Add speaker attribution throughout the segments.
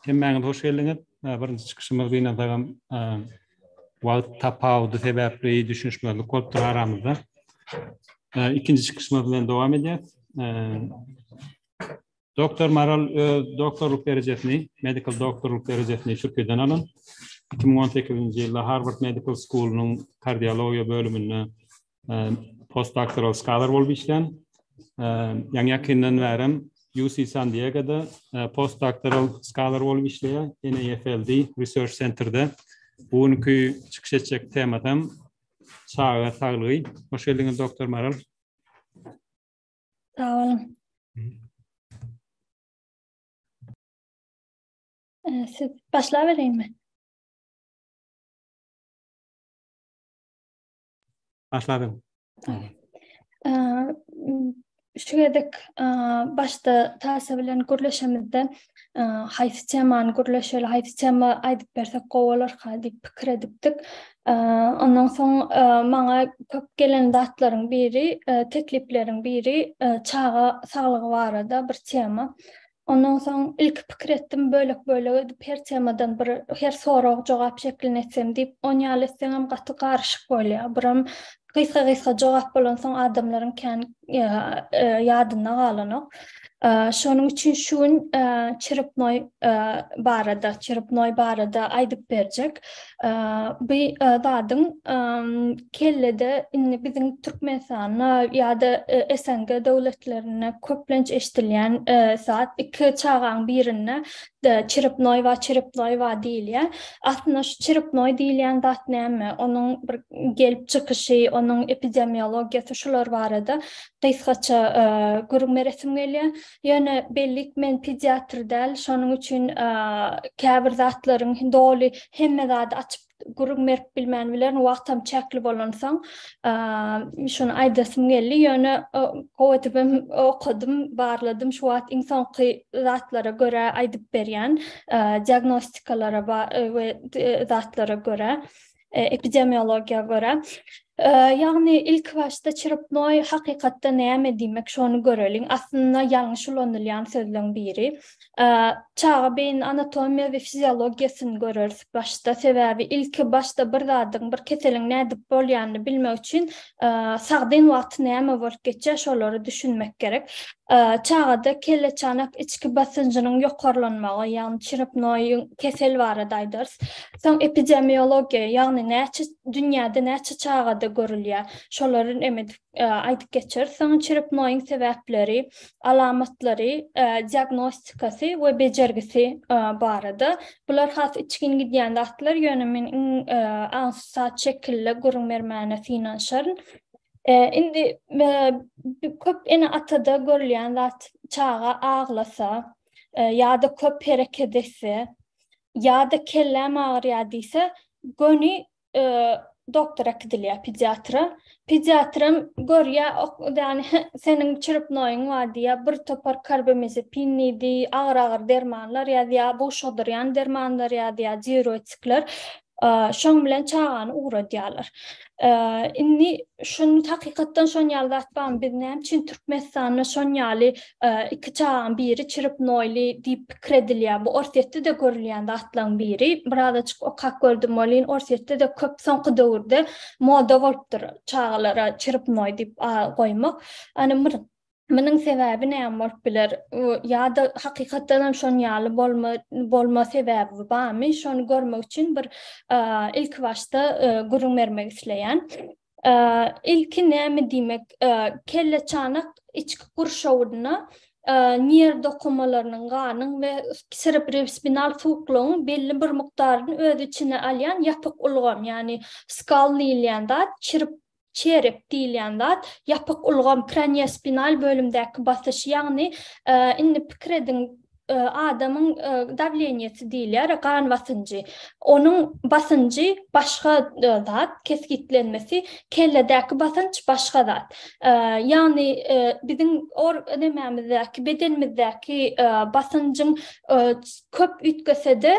Speaker 1: Hemmäňiz hoş geldiňiz. Birinji çykyşymyz gynansagam wagt tapawudy sebäpli düşünişmezlik bolupdyr aramyzda. Ikinji çykyşymyz bilen dowam edýäs. Doktor Maral öz doktorlyk derejesini, medical doktorlyk derejesini Türkiýeden alan. Iki müň on sekizinji ýylda Harward Medical School-nyň kardiologiýa bölüminde postdoktoral skalar bolup işlän. Ýaňy-ýakyndan bärem UC San Diegoda postdoktoral skalar bolup işleýär, NAFLD Research Center-de. Bu günki çykyş etjek temasam çaga saglygy. Hoş geldiňiz, doktor Maral.
Speaker 2: Sag boluň. Ee, siz başlap bereýinmi?
Speaker 1: Başlabyň.
Speaker 2: Ee, şu gezek başda Tasa bilen gürleşemizde haýsy temany gürleşeli, haýsy tema aýdyp bersek gowy bolarka diýip pikir edipdik. Ondan soň maňa köp gelen zatlaryň biri, teklipleriň biri çaga saglygy barada bir tema. Ondan soň ilki pikir etdim, bölek-bölek edip her temadan bir, her sorag-jogap şeklinde etsem diýip, on ýaly etseňem gaty garyşyk bolýar. Biram Gysga-gysga jogap bolansoň adamlaryň kän ýadynda galanok. Şonuň üçin şu gün Çerupnoý barada, Çerupnoý barada aýdyp berjek. Bu zadyň kellede indi biziň Türkmenistanda ýa-da SNG döwletlerinde köplenç eşidilýän zat. Iki çagaň birinde Da, çiripnoý wa çiripnoý wa diýilýär. Aslynda şu çiripnoý diýilýän zat näme, onuň bir gelip çykyşy, onuň epidemiologiýasy şular barada gysgaça gürrüňme resim gelýär. Ýöne bellik men pediatr däl, şonuň üçin käbir zatlaryň doly hemme zady açyp gürrüň berip bilmän bilerin, wagtam çäkli bolansoň, şuny aýdasym geldi, ýöne gowy edip hem okadym, barladym, şu wagt iň soňky zatlara görä aýdyp berýän, diagnostikalara we zatlara görä, epidemiologiýa görä. Ýagny ilkibaşda çyrpnoý hakykatda näme diýmek şony göreliň. Aslynda ýalňyş ulanylýan sözleň biri. Çaga beýnini anatomiýa we fiziologiýasyny göreris başda sebäbi ilki başda bir zadyň bir keseliň nädip bolýanyny bilmek üçin sagdyn wagty näme bolup geçýär şolary düşünmek gerek. Çagada kelle çanak içki basynjynyň ýokarlanmagy ýagny çyrpnoýyň kesel barada aýdarys. Soň epidemiologiýa ýagny näçe Dünýäde näçe çagada görülýär? Şolary em edip aýdyp geçer. Soň çirepnoýyň sebäpleri, alamatlary, diagnostikasy we bejergisi barada. Bular has içgin gidýän zatlar, ýöne men iň aňsat şekilde gürrüň bermäne synanyşaryn. Indi köp ene-atada görülýän zat, çaga aglasa ýa-da köp hereket etse, ýa-da kelläm agyrýar diýse, göni doktora gidilýär, pediatra. Pediatram görýär, ýagny seniň çrepnoýyň bar diýýär, bir topar karbamazepin diýdi, agyr-agyr dermanlar ýazýar, buşadyrýan dermanlar ýazýar, diuretikler. Şoň bilen çagany ugradýarlar. Indi şuny hakykatdan şon ýaly zat barmy? Biz näme üçin Türkmenistanda şon ýaly iki çagaň biri çirip noýly diýip pikir edilýär. Bu Orsýetde-de görülýän zatlaryň biri. Birazajyk okap gördüm welin Orsýetde-de köp soňky döwürde moda bolupdyr çagalara çirip noý diýip goýmak. Ýani bir Munuň sebäbi näme bolup biler? Ýa-da hakykatdan hem şon ýaly bolma sebäbi barmy? Şony görmek üçin bir ilki başda gürrüň bermek isleýän. Ilki näme diýmek? Kelleçanak içki gurşawynda nerw dokumalarynyň, ganyň we serebrospinal suwuklygyň belli bir mukdaryny öz içine alýan ýapyk ulgam, ýagny skal diýilýän zat çirip Çerep diýilýän zat ýapyk ulgam, kraniýospinal bölümdäki basyş, ýagny indi pikir ediň, adamyň dawleniýesi diýilýär, gan basynjy. Onuň basynjy başga zat, kesgitlenmesi, kelledäki basynç başga zat. Ýagny biziň nemämizdäki, bedenimizdäki basynjyň köp üýtgese-de,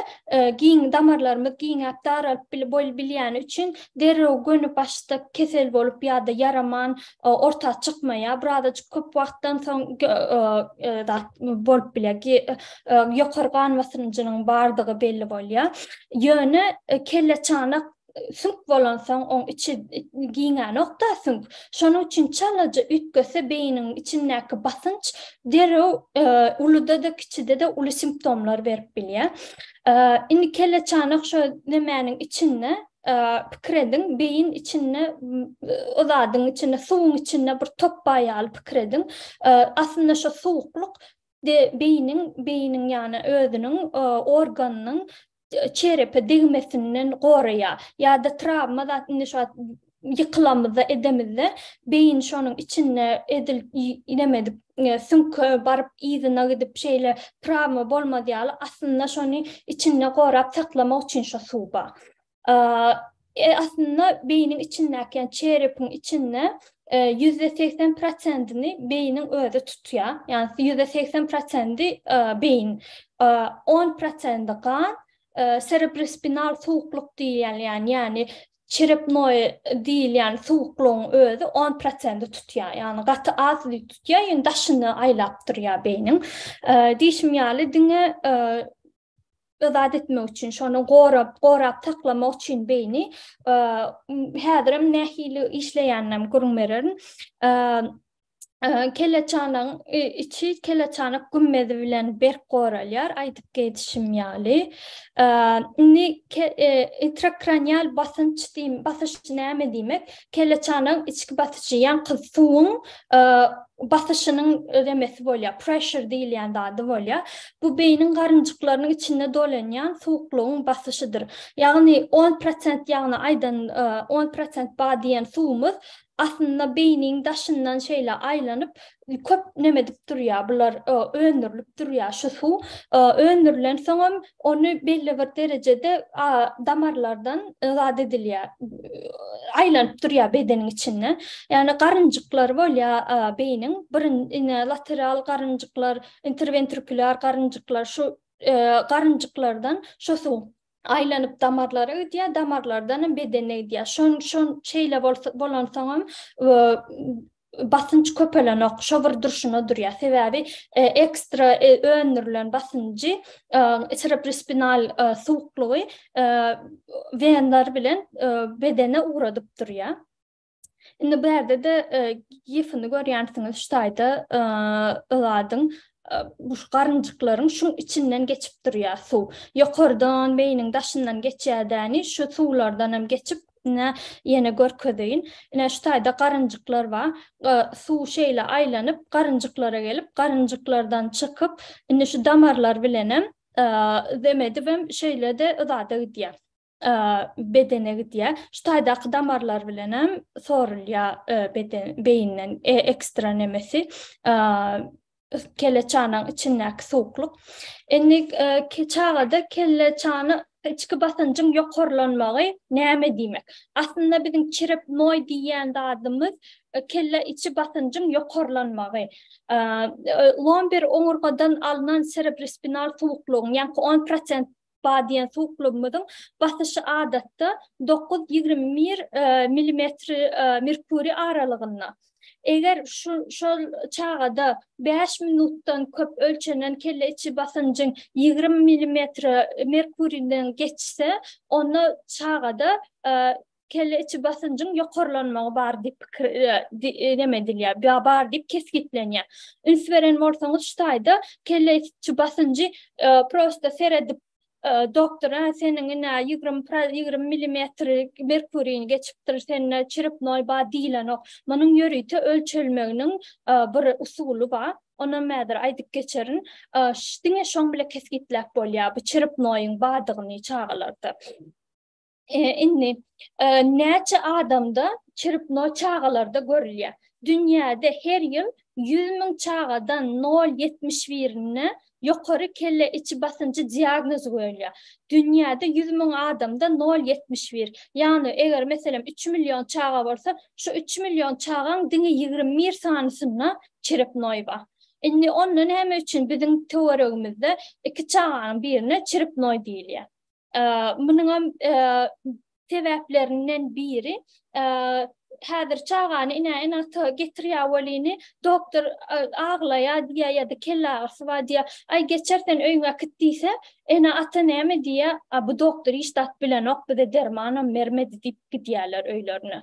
Speaker 2: giň damarlarymyz giňäp, daralyp bilýäni üçin, derrew göni başda kesel bolup ýa-da ýaraman orta çykmaýar. Birazajyk köp wagtdan soň zat bolup bilýär. Ki ýokary gan basymjynyň bardygy belli bolýar. Ýöne kelleçanak süňk bolansoň oň içi giňänokda süňk. Şonuň üçin çalaja üýtgese beýniniň içindäki basynç derrew uluda-da kiçide-de uly simptomlar berip bilýär. Indi kelleçanak şo nemäniň içinde pikir ediň, beýin içinde o zadyň içinde, suwuň içinde bir top bar ýaly pikir ediň. Aslynda şu suwuklyk beýiniň, beýiniň ýagny özüniň organynyň çerepe degmesinden goraýar. Ýa-da trawma zat indi şu wagt ýykylamyzda, edemizde beýin şonuň içinde edil neme edip, süňke baryp yzyna gidip şeýle trawma bolmaz ýaly aslynda şony içinde gorap saklamak üçin şo suw bar. E, aslynda beýniň içindäki, ýa çerepiň içinde e, ýüzde segsen prosentini beýniň özi tutýar. Ýagny ýüzde segsen prosenti e, beýin, e, on prosenti gan, serebrospinal suwukluk diýýän, ýagny çerepnoý diýilýän suwuklugyň özi on prosenti tutýar. Ýagny gaty az tutýar, ýöne daşyny aýlap durýar beýniň. Diýşim ýaly diňe yzat etmek üçin şony gorap gorap saklamak üçin beýni häzirem nähili işleýäninem gürrüň bererin keleçanyň içi keleçanyk gümmezi bilen berk goralýar aýdyp geçişim ýaly indi intrakranial basynç diýmek basyş näme diýmek Kelleçanagyň içki basyşy ýaňky suwuň basyşynyň ödemesi bolýar, pressure diýilýän zady bolýar. Bu beýniň garynjyklarynyň içinde dolanýan suwuklygyň basyşydyr. Ýagny on prosent ýagny aýdan on prosent bar diýen suwumyz aslynda beýniň daşyndan şeýle aýlanyp köp näme edip durýar bular e, öndürilip durýar şu suw e, öndürilen soňam ony belli bir derejede damarlardan e, zat edilýär aýlanyp durýar bedeniň içinde ýagny garynjyklar bolýar beýniň birinji lateral garynjyklar interventrikular garynjyklar şu garynjyklardan şu suw aýlanyp damarlara gidýär, damarlardanam bedene gidýär. Şon şon şeýle bolansoňam basynç köpelenok, şo bir durşuna durýar. Sebäbi e, ekstra e, öndürilen basynjy cerebrospinal e, suwuklygy venler bilen bedene ugradyp durýar. Indi bu ýerde-de gifini görýänsiňiz şu taýda ýadyň bu garynjyklaryň şuň içinden geçip durýar suw. Ýokardan beýniň daşyndan geçýädäni şu suwlardan hem geçip ne ýene görkezeýin. Ine şu taýda garynjyklar bar. Suw şeýle aýlanyp garynjyklara gelip, garynjyklardan çykyp, indi şu damarlar bilen hem zem edip hem şeýle-de yzada gidýär. bedene gidýär. Şu taýdaky damarlar bilen hem sorulýar beden beýinden ekstra nemesi kelle çanaň içindäki suwuklyk. Indi çagada kelle çana içki basynjyň ýokarlanmagy näme diýmek? Aslynda biziň çirepnoý diýýän zadymyz kelle içi basynjyň ýokarlanmagy. Lomber oňurgadan alnan serebrospinal suwuklygyň, ýaňky on prosent Ba diýen suwuklygymyzyň basyşy adatda dokuz ýigrimi bir milimetr merkuriý aralygynda. Eger şol çagada bäş minutdan köp ölçenen kelle içi basynjyň ýigrimi milimetr merkuriýden geçse, onda çagada kelle içi basynjyň ýokarlanmagy bar diýip pikir neme edilýär, bar diýip kesgitlenýär. Üns beren bolsaňyz şu taýda kelle içi basynjy prosta seredip doktor hä seniň ine ýigrimi ýigrimi milimetri merkurini geçipdir sende çirepnoý bar diýilenok. Munuň ýörite ölçelmeginiň bir usuly bar. Onam häzir aýdyp geçerin. Diňe şoň bile kesgitläp bolýar bu çirepnoýyň bardygyny çagalarda. Indi näçe adamda çrpno çagalarda görülýär? Dünýäde her ýyl ýüz müň çagadan nol ýetmiş birinde ýokary kelle içi basynjy diagnozy goýulýar. Dünýäde ýüz müň adamda nol ýetmiş bir. Ýagny eger meselem üç million çaga bolsa, şu üç million çagaň diňe ýigrimi bir sanysynda çrpnoý bar. Indi onda näme üçin biziň töweregimizde iki çaganyň birine çrpnoý diýilýär? Munuňam sebäplerinden biri häzir çagany ine ene ata getirýär welini doktor aglaýar diýýär ýa-da kelle agyrysy bar diýýär. Aý geçer sen öýüňe äkit diýse, ene ata näme diýýär? A bu doktor hiç zat bilenok, bize dermanam bermedi diýip gidýärler öýlerine.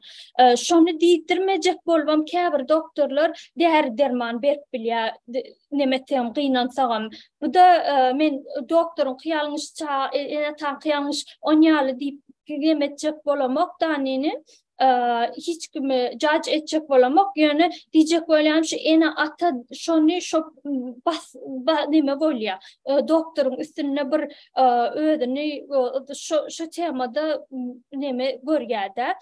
Speaker 2: Şony diýdirmejek bolubam käbir doktorlar däri-derman berip bilýär. neme etsegem gynansagam bu-da men doktoryň kyýalňyş ça ene ata kyýalňyş on ýaly diýip gem etjek bolamok danini hiç kimi jac etjek bolamok ýöne diýjek bolýan şu ene ata şony şo bas neme bolýa doktoryň üstünde bir özüni şo şo temada neme görýädä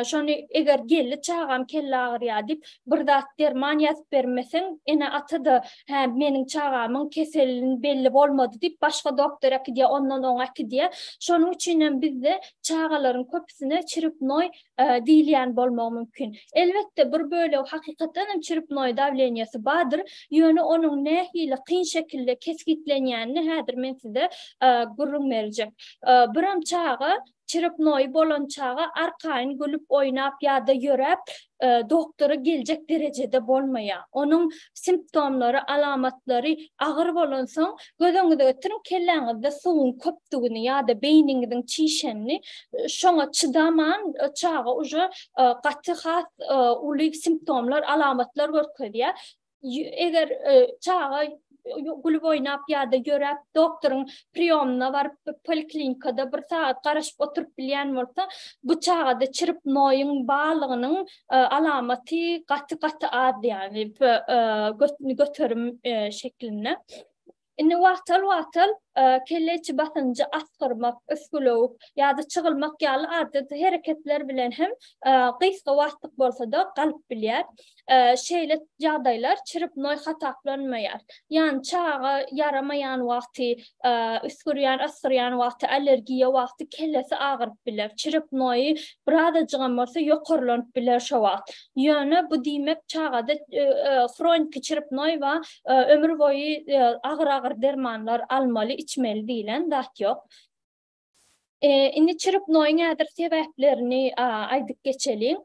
Speaker 2: Şony eger geldi çagam kelle agyrýar diýip bir zat derman ýazyp bermeseň ene ata-da hä meniň çagamyň keselin belli bolmady diýip başga doktor äkidýär ondan oňa äkidýär şonuň üçinem bizde çagalaryň köpüsine çiripnoý diýilýän bolmagy mümkin elbetde bir bölegi hakykatdanam çiripnoý dawleniýasy bardyr ýöne onuň nähili kyn şekilde kesgitlenýänini häzir men size gürrüň berjek biram çaga Çyryknoýy bolan çaga arkaýyn gülüp oýnap ýa-da ýöräp doktora geljek derejede bolmaýar. Onuň simptomlary, alamatlary agyr bolansoň, göz öňüňize getiriň, kelläňizde suwuň köpdügini ýa-da beýniňiziň çişenini, şoňa çydaman çaga uje gaty has uly simptomlar, alamatlar görkezýär. eger çaga gülüp oýnap ýa-da ýöräp doktoryň priýomyna baryp poliklinikada bir sagat garaşyp oturyp bilýän bolsa, bu çagada çirip noýuň barlygynyň alamaty gaty-gaty az ýagny göterim şeklinde. Indi wagtal-wagtal kelle içi basynjy asgyrmak, üsgülewük ýa-da çygylmak ýaly adaty hereketler bilen hem gysga wagtlyk bolsa-da galyp bilýär. Şeýle ýagdaýlar çrpnoý hasaplanmaýar. Ýagny çaga ýaramaýan wagty, üsgürýän, asgyrýan wagty, allergiýa wagty kellesi agyryp biler. Çrpnoýy birazajygam bolsa ýokarlanyp biler şo wagt. Ýöne bu diýmek çagada hroniki çrpnoý we ömür boýy agyr-agyr dermanlar almaly, içmeli diýlen zat ýok. Indi çrpnoýyň häzir sebäplerini aýdyp geçeliň.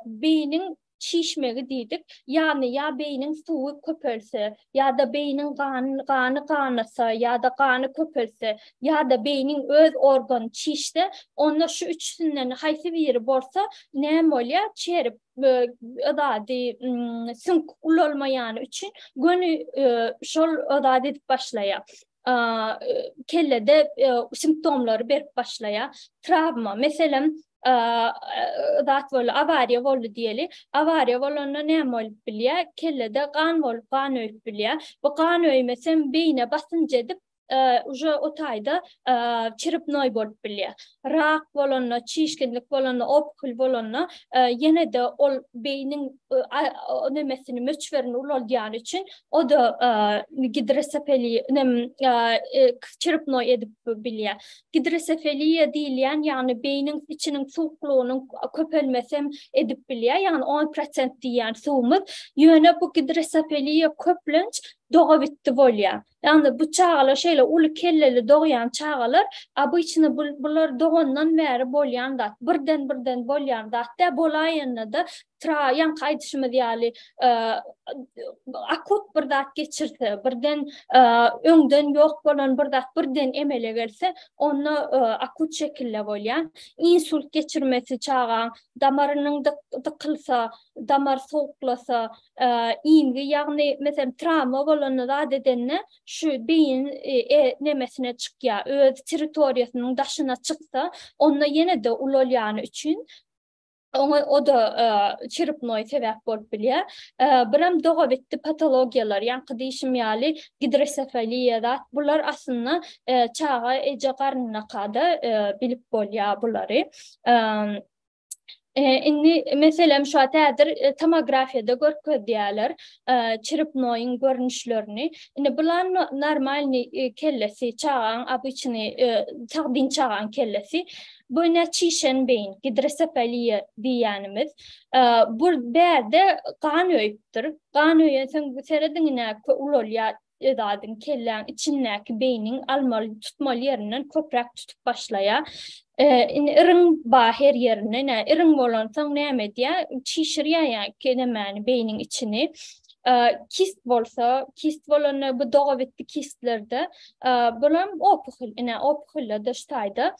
Speaker 2: Beýniň şişmegi diýdik. Ýagny ýa beýniň suwy köpelse, ýa-da beýniň gany ganasa, ýa-da gany köpelse, ýa-da beýniň öz organy çişse, onda şu üçüsinden haýsy biri bolsa, näme bolýar? Çerip zady süňk ulalmaýany üçin göni şol zady edip başlaýar. Kellede simptomlary berip başlaýar. Trawma, meselem, zat boldy, awariýa boldy diýeli. Awariýa bolanda näme bolup bilýär? Kellede gan bolup, gan öýüp bilýär. Bu gan öýmesem beýne basynç edip, уже o taýda çiripnoý bolup bilýär. Rak bolanda, çişginlik bolanda, opukl bolanda ýene-de ol beýniň nemesini, möçberini ulaldýany üçin o-da gidrosefeliýa, nem, çiripnoý edip bilýär. Gidrosefeliýa diýilýän, ýagny beýniň içiniň suwuklygynyň köpelmesi hem edip bilýär, ýagny on prosent diýýän suwumyz. Ýöne bu gidrosefeliýa köplenç dogabitdi bolýar. Ýagny bu çagalar şeýle uly kelleli dogýan çagalar obyçny bular dogandan bäri bolýan zat birden birden bolýan zat däl bolaýanda-da ýaňky aýdyşymyz ýaly akut bir zat geçirse birden öňden ýok bolan bir zat birden emele gelse onda akut şekilde bolýar insult geçirmesi çagaň damarynyň dykylsa damar sowuklasa iňňi ýagny meselem trawma bolanda zat edende şu beýin nemesine çykýa öz territoriýasynyň daşyna çyksa onda ýenede ulalýany üçin oňa oda çirpnoý sebäp bolup bilýä biram dogabitdi patologiýalar ýaňky diýşim ýaly gidresefaliýa zat bular aslynda çaga eje garnynakada bilip bolýa bulary. Indi meselem şu wagt häzir e, tomografiýada görkezýärler e, çiripnoýyň görnüşlerini. Indi bular normalny e, kellesi, çagaň obyçny sagdyn çagaň kellesi. Bu ne çişen beýin, gidrosefaliýa diýýänimiz. Bu bärde gan öýüpdir. Gan öýensoň bu serediňine ulalýar Öz adyň kelläň içindäki beýniň almaly tutmaly ýerinden köpräk tutup başlaýa. Indi iriň ba her ýerinde nä iriň bolansoň näme edýä çişirýä ýa kenemäni beýniň içini. Kist bolsa kist bolanda bu dogabitdi kistlerde bulam opuhil ine opuhilde daş taýda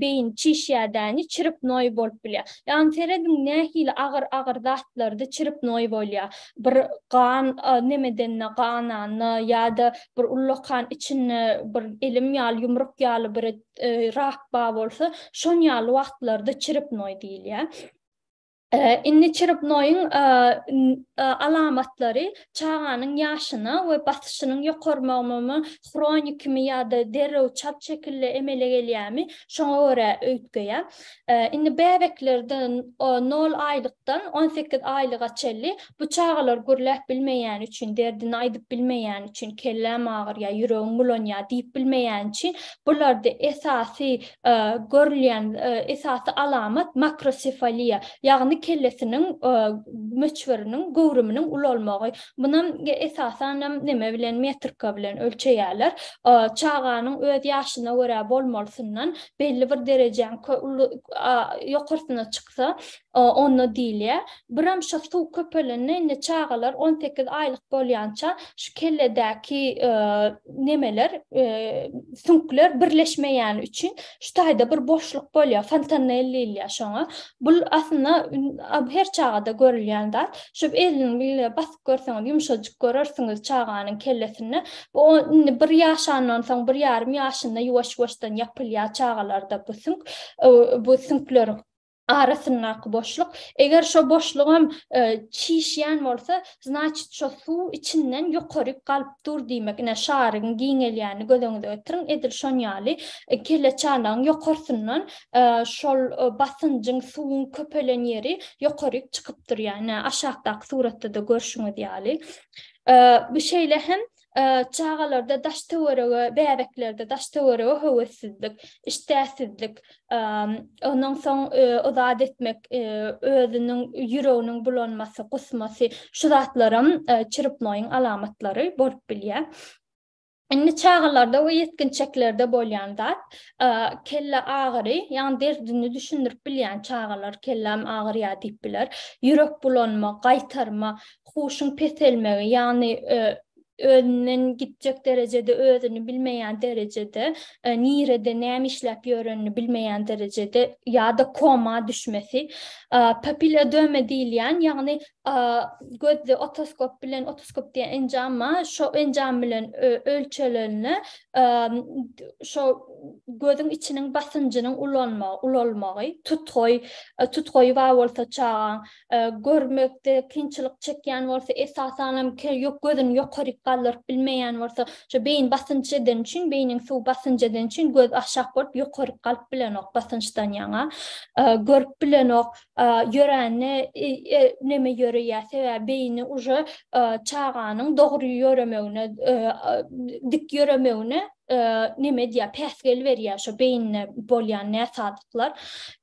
Speaker 2: beýin çişýädäni çrpnoý bolup bilýär. Ýagny serediň nähili agyr agyr zatlarda çrpnoý bolýar. Bir gan nemedende gananda ýa-da bir ullakan içinde bir elim ýaly ýumruk ýaly bir rak bar bolsa şon ýaly wagtlarda çrpnoý diýilýär. Indi çyrybnoýyň alamatlary çaganyň ýaşyna we basyşynyň ýokarmagymymy, hronikimi ýa-da derrew çalt şekilde emele gelýärmi, şoňa görä öýtgeýär. Indi bäbeklerde nol aýlykdan on sekiz aýlyga çenli bu çagalar gürläp bilmeýäni üçin, derdini aýdyp bilmeýäni üçin, kelläm agyrýar, ýüregim bulanýar diýip bilmeýäni üçin, bularda esasy görülýän esasy alamat makrosefaliýa, ýagny kellesiniň möçberiniň, göwrüminiň ulalmagy. Munam esasanam näme bilen, metrika bilen ölçeýärler. Çaganyň öz ýaşyna görä bolmalysyndan belli bir derejäňki ýokarsyna çyksa, Onda diýilýär, Biramşa suw köpelende indi çagalar on sekiz aýlyk bolýança şu kelledäki nemeler, süňkler birleşmeýäni üçin şu taýda bir boşluk bolýar, fontanel diýilýär şoňa. Bul aslynda her çagada görülýän zat. Şu eliniň bilen basyp görseňiz, ýumşajyk görersiňiz çaganyň kellesinde. Bu indi bir ýaşandan soň, bir ýarym ýaşynda ýuwaş-ýuwaşdan ýapylýar çagalarda bu süňk, bu süňkler. arasyndaky boşluk. Eger şo boşlugam çişýän bolsa, znaçit şo suw içinden ýokaryk galyp dur diýmek. Ine, şaryň giňelýänini göz öňüňize getiriň. Edil şon ýaly kelleçanagyň ýokarsyndan şol basynjyň, suwuň köpelen ýeri ýokaryk çykyp durýar. Ine, aşakdaky suratda-da görşüňiz ýaly. Bu şeýle hem Çagalarda daş-töwerege, bäbeklerde daş-töwerege höwessizlik, işdäsizlik, ondan soň o zat etmek, özüniň ýüreginiň bulanmasy, gusmasy, şu zatlaram çiripnoýyň alamatlary bolup bilýär. Indi çagalarda we ýetginjeklerde bolýan zat, kelle agyry, ýagny derdini düşündirip bilýän çagalar, kelläm agyrýar diýip biler, ýürek bulanma, gaýtarma, huşuň peselmegi, ýagny özünden gitjek derejede özüni bilmeýän derejede, nirede näme işläp ýörenini bilmeýän derejede ýa-da koma düşmesi, papilýodöma diýilýän, ýagny gözde otoskop bilen, otoskop diýen enjama, şo enjam bilen ölçelenine şo gözüň içiniň basynjynyň ulalmagy, tutgaý, tutgaýy bar bolsa çagaň, görmekde kynçylyk çekýän bolsa, esasanam ýok gözüni ýokaryk galdyryp bilmeýän bolsa, şu beýin basynç edeni üçin, beýniň suwy basynç edeni üçin göz aşak bolup ýokaryk galyp bilenok basynçdan ýaňa. Görüp bilenok. Ýörände neme ýöreýär? Sebäbi beýni uje çaganyň dogry ýöremegine, dik ýöremegine neme edýär, päsgel berýär şo beýinde bolýan näsazlyklar.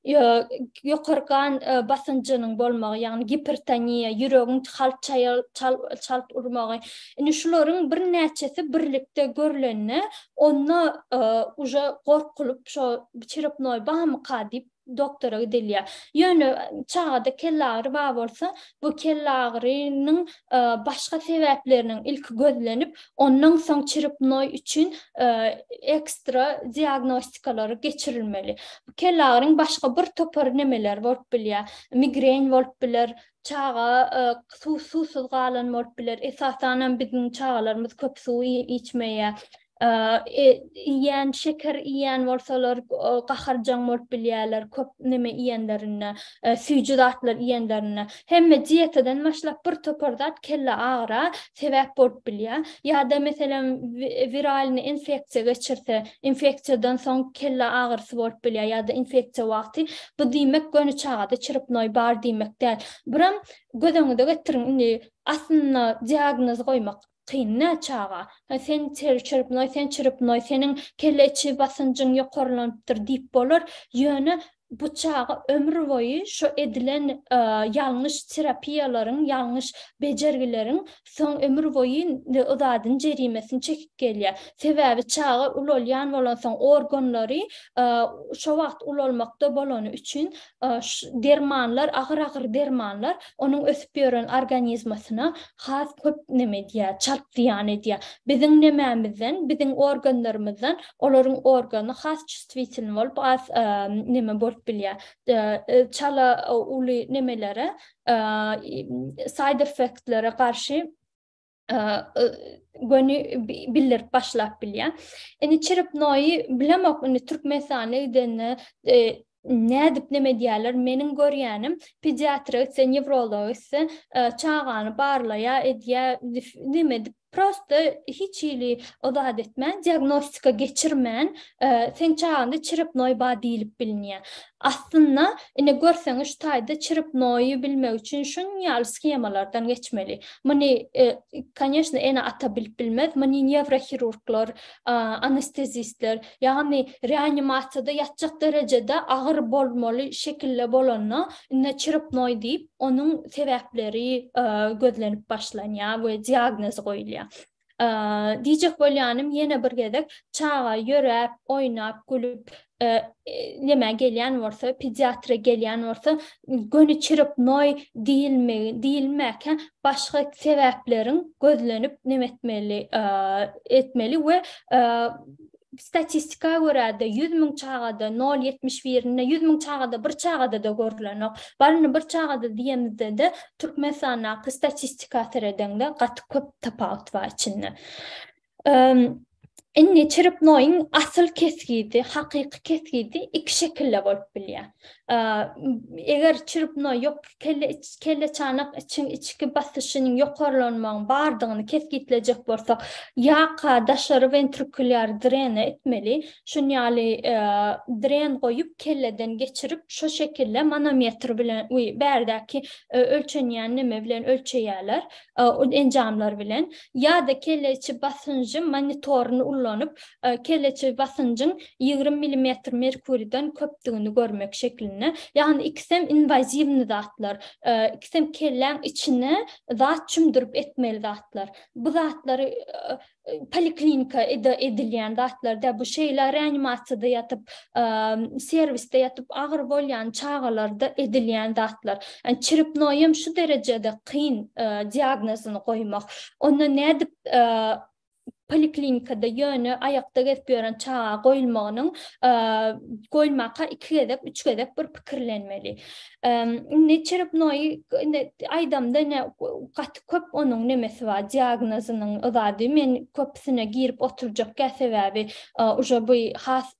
Speaker 2: Ýokary gan basynjynyň bolmagy, ýagny gipertoniýa, ýüregiň halt çalt urmagy. Indi şularyň birnäçesi birlikde görlende onda uje gorkulyp şo çirepnoý bamyka diýip doktora gidilýär. Ýöne çagada kellagyry bar bolsa, bu kellagyrynyň başga sebäpleriniň ilki gözlenip, ondan soň çrepnoý üçin ekstra diagnostikalary geçirilmeli. Kellagyryň başga bir topar nemeleri bolup bilýär. Migren bolup biler, çaga suwsuz galan bolup biler. Esasanam biziň çagalarymyz köp suw içmeýär. iýýän, şeker iýýän bolsalar gaharjaň bolup bilýärler, köp neme iýenlerinde, süýji zatlar iýenlerinde. Hemme dietadan başlap bir topar zat kelle agyra sebäp bolup bilýär. Ýa-da meselem wiralny infeksiýa geçirse, infeksiýadan soň kelle agyrysy bolup bilýär ýa-da infeksiýa wagty. Bu diýmek göni çagada çrpnoý bar diýmek däl. Biram göz öňüňize getiriň, indi aslynda diagnoz goýmak Kyn nä çaga? Hä sen çyrpnoý, sen çyrpnoý, seniň kelle içi basynjyň ýokarlanypdyr diýip bolar, ýöne bu çaga ömür boýy şo edilen ýalňyş terapiýalaryň, ýalňyş bejergileriň soň ömür boýy yzadyny jerimesini çekip gelýär. Sebäbi çaga ulalýan bolansoň organlary şo wagt ulalmakda bolany üçin dermanlar, agyr-agyr dermanlar onuň ösüp ýören organizmasyna has köp neme edýär, çalt zyýan edýär. Biziň nememizden, biziň organlarymyzdan olaryň organy has çustwitelni bolup, has neme bolup bilýär. Çala uly nemelere, saýderfektlere garşy göni bildirip başlap bilýär. Indi çirip noýy bilemok, indi Türkmenistana gidende nädip näme diýerler meniň görýänim pediatra etse newrolog etse çagany barlaýa edýä näme dip prosta hiç hili o zat etmän diagnostika geçirmän sen çaganda çirip noý bar diýilip bilinýä Aslynda, ine, görseňiz, şu taýda çirip noýy bilmek üçin şunuň ýaly shemalardan geçmeli. Muny, konýeşne, ene-ata bilip bilmez, muny newrohirurglar, anestezistler, ýagny reanimasiýada ýatjak derejede agyr bolmaly şekilde bolanda, ine, çirip noý diýip, onuň sebäpleri gözlenip başlanýar we diagnoz goýulýar. Diýjek bolýanym ýene bir gezek çaga ýöräp, oýnap, gülüp nämä gelýän bolsa, pediatra gelýän bolsa, göni çyrpnoý diýilmegi, diýilmäkä başga sebäpleriň gözlenip näme etmeli, etmeli we Statistika görä-de, ýüz müň çagada nol ýetmiş birinde, ýüz müň çagada bir çagada-da görlenok. Baryny bir çagada diýemizde-de, Türkmenistandaky statistika seredeňde gaty köp tapawut bar içinde. Indi çiripnoýyň asyl kesgidi, hakyky kesgidi iki şekilde bolup bilýär. Eger çiripnoý ýok kelle kelleçanak içiň içki basyşynyň ýokarlanmagyň bardygyny kesgitlejek bolsak, ýaka daşary wentrikulýar drene etmeli, şun ýaly dren goýup kelleden geçirip şo şekille manometr bilen we bärdäki ölçenýän neme bilen ölçeýäler enjamlar bilen ýa-da kelle içi basynjy monitoryny ullanyp kelleçe basynjyň ýigrimi milimetr merkuriden köpdügini görmek şeklinde. Ýagny ikisem inwaziwny zatlar. Ikisem kelläň içine zat çümdürip etmeli zatlar. Bu zatlary poliklinika ede edilýän zatlar däl. Bu şeýle reanimasiýada ýatyp, serwisde ýatyp agyry bolýan çagalarda edilýän zatlar. Çrepnoýam şu derejede kyn diagnozyny goýmak. Onda nädip poliklinikada ýöne aýakda gezip ýören çaga goýulmagynyň goýulmaka iki gezek, üç gezek bir pikirlenmeli. Indi çerepnoý indi aýdamda ine gaty köp onuň nemesi bar, diagnozynyň zady. Men köpüsine girip oturjak däl, sebäbi uje bu has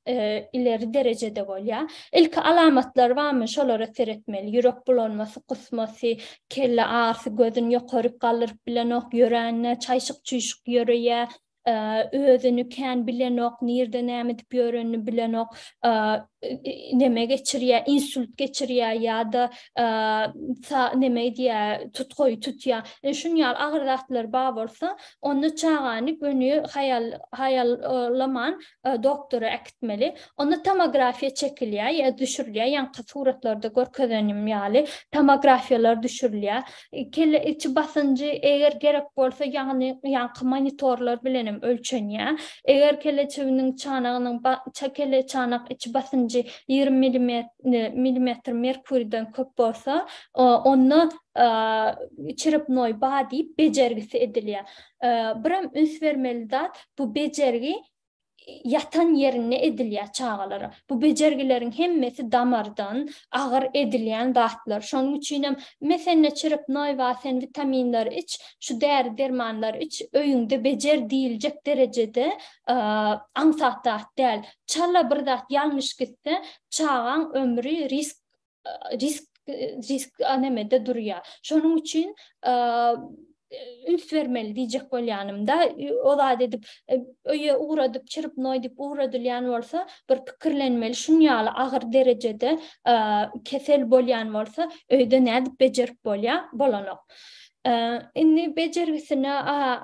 Speaker 2: ileri derejede bolýar. Ilki alamatlary barmy, şolara seretmeli. Ýürek bulanmasy, kusmasy, kelle arsy gözün ýokaryk galdyryp bilenok ýöränine çaýşyk çüýşük ýöreýä özüni kän bilenok nirde näme edip ýörenini bilenok neme geçirýä insult geçirýä ýa-da neme edýä tutgaýy tutýa şuny ýaly agyr zatlar bar bolsa onda çagany göni haýal haýal laman doktora äkitmeli. Onda tomografiýa çekilýär, ýa düşürilýär, ýaňky suratlarda görkezenim ýaly, tomografiýalar düşürilýär. Kelle içi basynjy, eger gerek bolsa, ýagny ýaňky monitorlar bilen hem ölçenýär. Eger kelle çüwdüniň çanagynyň kelle çanak içi basynjy ýigrimi millimetr merkuriden köp bolsa, onda çerepnoý ba diýip bejergisi edilýär. Biram üns bermeli zat, bu bejergi ýatan ýerinde edilýär çagalara. Bu bejergileriň hemmesi damardan, agyr edilýän zatlar. Şonuň üçinem mesenne çürük noýba sen witaminleri iç, şu däri-dermanlary iç, öýüňde bejer diýiljek derejede aňsat zat däl. Çala bir zat ýalňyş gitse, çagaň ömri risk risk risk anemede durýar. Şonuň üçin üns bermeli diýjek bolýanymda, o zat edip e, öýe ugradyp, çyryp noý diýip ugradylýan bolsa, bir pikirlenmeli, şun ýaly agyr derejede kesel bolýan bolsa, öýde nädip bejerip bolýar, bolanok. Indi bejergisine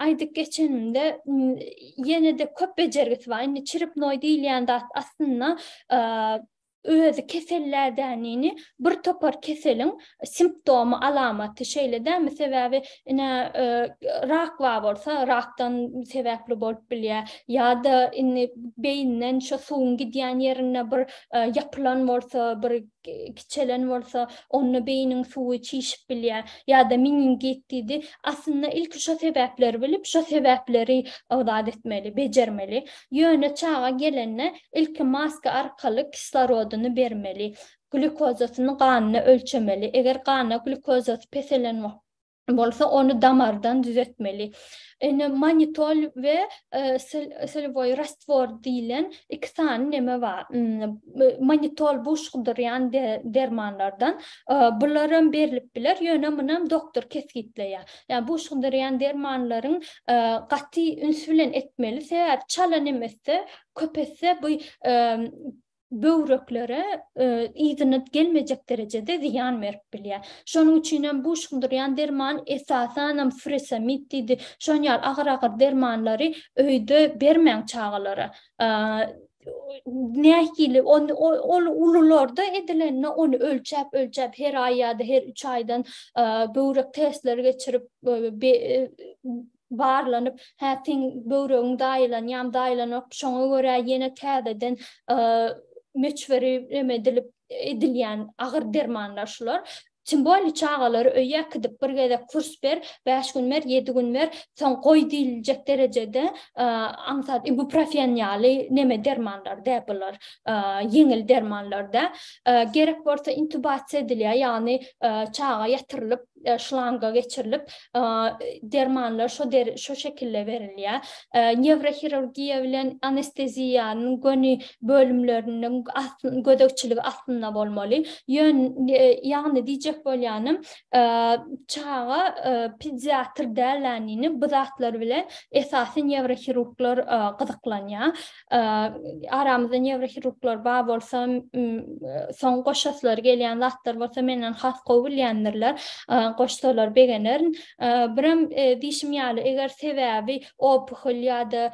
Speaker 2: aýdyp geçenimde, ýene-de köp bejergisi bar. Indi çyryp noý diýilýän zat aslynda özi kesellädenini bir topar keseliň simptomy alamaty şeýle dämi sebäbi ine rak bar bolsa rakdan sebäpli bolup bilýär ýa-da indi beýinden şo suwuň gidýän ýerinde bir ýapylan bolsa bir kiçelen bolsa onda beýiniň suwy çişip bilýär ýa-da meningit diýdi aslynda ilki şo sebäpleri bilip şo sebäpleri ygdat etmeli bejermeli Ýöne çaga gelende ilki maska arkaly kislorodyny bermeli, glýukozasyny ganyna ölçemeli, eger ganda glýukozasy peselen bolsa, ony damardan düzetmeli. Ene manitol we solýoý rastwor diýlen iki sany neme bar. Manitol bu şugdurýan dermanlardan. Bular hem berlip biler, ýöne muny hem doktor kesgitleýär. Ýa buşgydyrýan dermanlaryň gaty üns bilen etmeli sebäbi çala nemesde köpetse bu böwreklere yzyna gelmejek derejede zyýan berip bilýär. Şonuň üçin hem buşgydyrýan derman esasanam furosemid diýdi şon ýaly agyr agyr dermanlary öýde bermäň çagalara. nähili ony ol ulularda edilende ony ölçäp ölçäp her aý ýa-da her 3 aýdan böwrek testleri geçirip barlanyp hä seň böwregiň daýylan ýam daýylanok şoňa görä ýene täzeden möçberi neme edilip edilýän agyr dermanlar şular Kim boldy çagalary öýe äkidip bir gezek kurs ber, bäş gün ber, ýedi gün ber, soň goý diýiljek derejede aňsat ibuprofen ýaly neme dermanlar dä bular, ýeňil dermanlar dä. Gerek bolsa intubasiýa edilýär, ýagny çaga ýatyrylyp, şlanga geçirilip, dermanlar şo şo şekilde berilýär. newrohirurgiýa bilen anesteziýanyň göni bölümleriniň gözegçiligi astynda bolmaly. Ýagny diýjek bolýanym, çaga pediatr dälänini bu zatlar bilen esasy newrohirurglar gyzyklanýar. aramyzda newrohirurglar bar bolsa, soň goşasylary gelýän zatlar bolsa menden has gowy bilýändirler, goşsalar begenerin. Birem diýşim ýaly, eger sebäbi opuhol ýa-da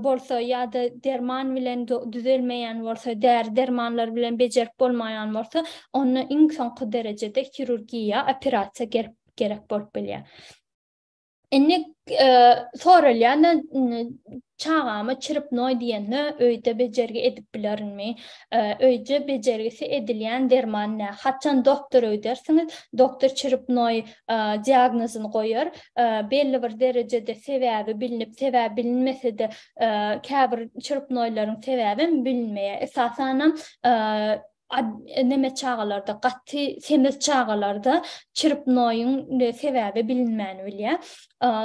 Speaker 2: bolsa ýa-da derman bilen düzelmeýän bolsa, däri-dermanlar bilen bejerip bolmaýan bolsa, onda iň soňky derejede hirurgiýa, operasiýa gerek bolup bilýär. Indi soralýan çagama çirip noý diýende öýde bejergi edip bilerinmi? Öýde bejergisi edilýän derman nä? Haçan doktora gidersiňiz? Doktor çirip noý diagnozyny goýar. Belli bir derejede sebäbi bilinip, sebäbi bilinmese-de, käbir çirip noýlaryň sebäbem bilinmeýär. Esasanam Neme çagalarda, gaty semiz çagalarda çrpnoýyň sebäbi bilinmän bilýär.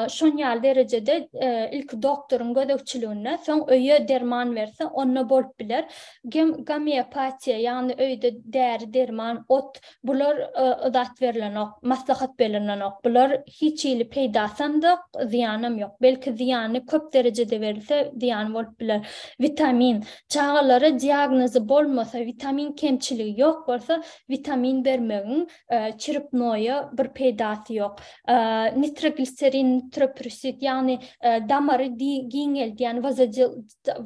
Speaker 2: Şon ýaly derejede ilki doktoryň gözegçiliginde, soň öýe derman berse, onda bolup biler. Gomeopatiýa, ýagny öýde däri-derman, ot, bular yzat berlenok, maslahat berlenok. Bular hiç hili peýdasam zok, zyýanam ýok. Belki zyýany köp derejede berilse, zyýany bolup biler. Witamin, Çagalara diagnozy bolmasa, witamin kemçiligi ýok bolsa, witamin bermegiň çrpnoýa bir peýdasy ýok. Nitrogliserin, nitroprusit, ýagny damary giňeldýän,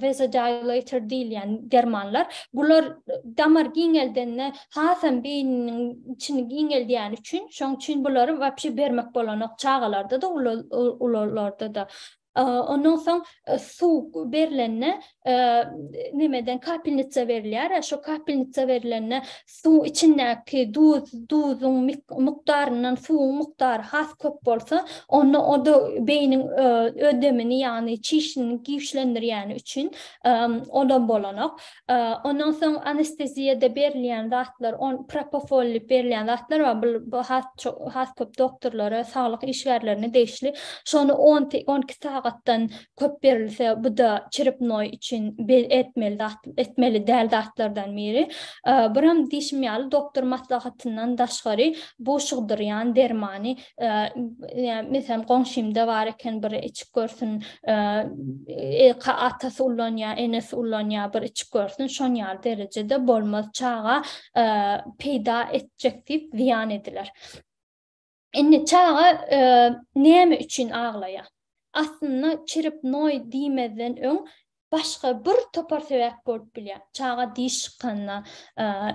Speaker 2: vasodilator diýilýän dermanlar, bular damar giňeldende hasam beýniniň içini giňeldýäni üçin, şonuň üçin bulary wapşe bermek bolanok çagalarda-da, ulularda-da. Ondan soň suw berlende nemeden kapelnitsa berilýär. Şo kapelnitsa berilende suw içindäki duz, duzuň mukdaryndan suwuň mukdary has köp bolsa, onda o-da beýniň ödemini, ýagny çişini güýçlendirýäni üçin o-da bolanok. Ondan soň anesteziýada berilýän zatlar, on propofol diýip berilýän zatlar bar. Bu bu has ço- has köp doktorlara, saglyk işgärlerine degişli. Şony on t- on iki sagatdan köp berilse, bu da çrepnoý üçin be- etmeli zat, etmeli däl zatlardan biri. Buram diýşim ýaly, doktor maslahatyndan daşgary buşugdyrýan dermany yani meselem goňşymda bar eken bir içip görsün e, atasy ullanýar enesi ullanýar bir içip görsün şon ýaly derejede bolmaz çaga peýda etjek diýip ziýan ediler indi çaga näme üçin aglaýar aslynda çirip noý diýmezden öň başga bir topar sebäp bolup bilýär. Çaga diş çykanda,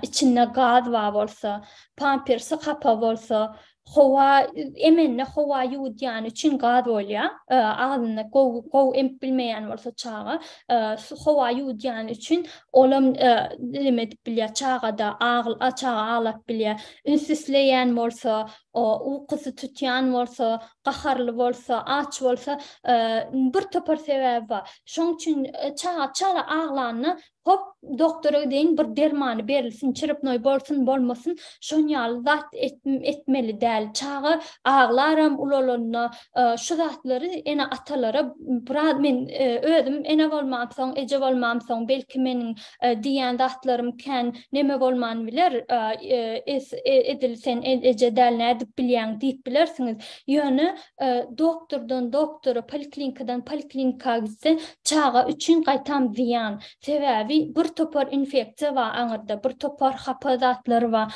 Speaker 2: içinde gaz bar bolsa, pampersi hapa bolsa, howa emende howa ýuwudýany üçin gaz bolýar. Agzyny gowy gowy emip bilmeýän bolsa çaga, howa ýuwudýany üçin olam neme edip bilýär, çagada çaga aglap bilýär. Üns isleýän bolsa, O ukusy tutýan bolsa, gaharly bolsa, aç bolsa, bir topar sebäbi bar. Şoň üçin çaga çala aglanda, hop, doktora gideýin, bir dermany berilsin, çyrpnoý bolsun, bolmasyn, şon ýaly zat etmeli däl. Çaga aglaram ulalanda, şu zatlary ene-atalara biraz men özüm ene bolmamsoň, eje bolmamsoň, belki meniň Diýýän zatlarym kän neme bolman biler, edil sen eje däl nädip bilýäň diýip bilersiňiz. Ýöne doktordan doktora, poliklinikadan poliklinika gitse çaga üçin gaýtam zyýan. Sebäbi bir topar infeksiýa bar aňyrda, bir topar hapa zatlar bar.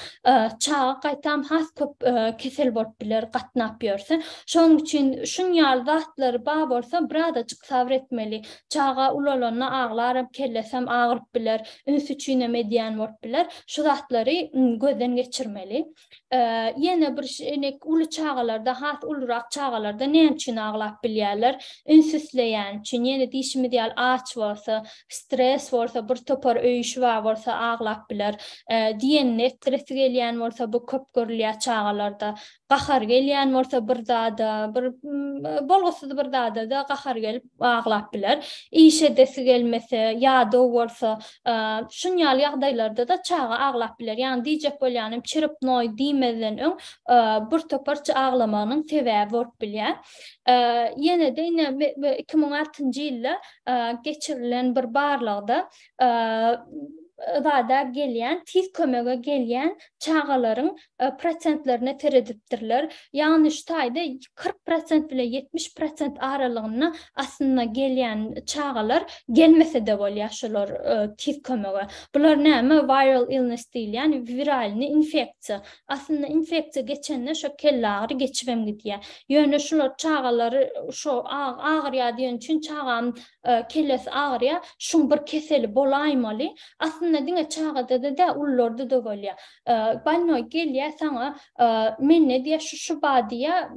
Speaker 2: Çaga gaýtam has köp kesel bolup biler gatnap ýörse. Şonuň üçin şunýaly zatlar bar bolsa birazajyk sabr etmeli. Çaga ulalanda aglaram, kellesem agyryp biler, üns üçinem edýän bolup biler. Şu zatlary gözden geçirmeli. Ýene bir uly çagalarda, has ulurak çagalarda näme üçin aglap bilýärler? Üns isleýäni üçin, ýene diýşimiz ýaly aç bolsa, stres bolsa, bir topar öý işi bar bolsa aglap biler. Diýenini etdiresi gelýän bolsa bu köp görülýär çagalarda. Gahary gelýän bolsa bir zada, bir bolgusyz bir zada-da gahary gelip aglap biler. Iş edesi gelmese, ýadaw bolsa, şun ýaly ýagdaýlarda-da çaga aglap biler. Ýagny diýjek bolýanym, çirip noý diýmezden öň bir toparça aglamagynyň sebäbi bolup bilýär. Ýene-de ine iki müň altynjy ýylda geçirilen bir barlagda zada gelýän, tiz kömege gelýän çagalaryň prosentlerine seredipdirler. Ýagny şu taýda kyrk prosent bilen ýetmiş prosent aralygynda aslynda gelýän çagalar gelmese-de bolýar şolar tiz kömege. Bular näme? Viral illness diýilýän wiralny infeksiýa. Aslynda infeksiýa geçende şo kellagyry geçibem gidýär. Ýöne şular çagalary şo agyrýar diýen üçin çagam kellesi agyrýar, şuň bir keseli bolaýmaly. Aslynda diňe çagada-da däl, ulularda-da bolýar. Banno gelýä saňa men ne diýä şu şu ba diýä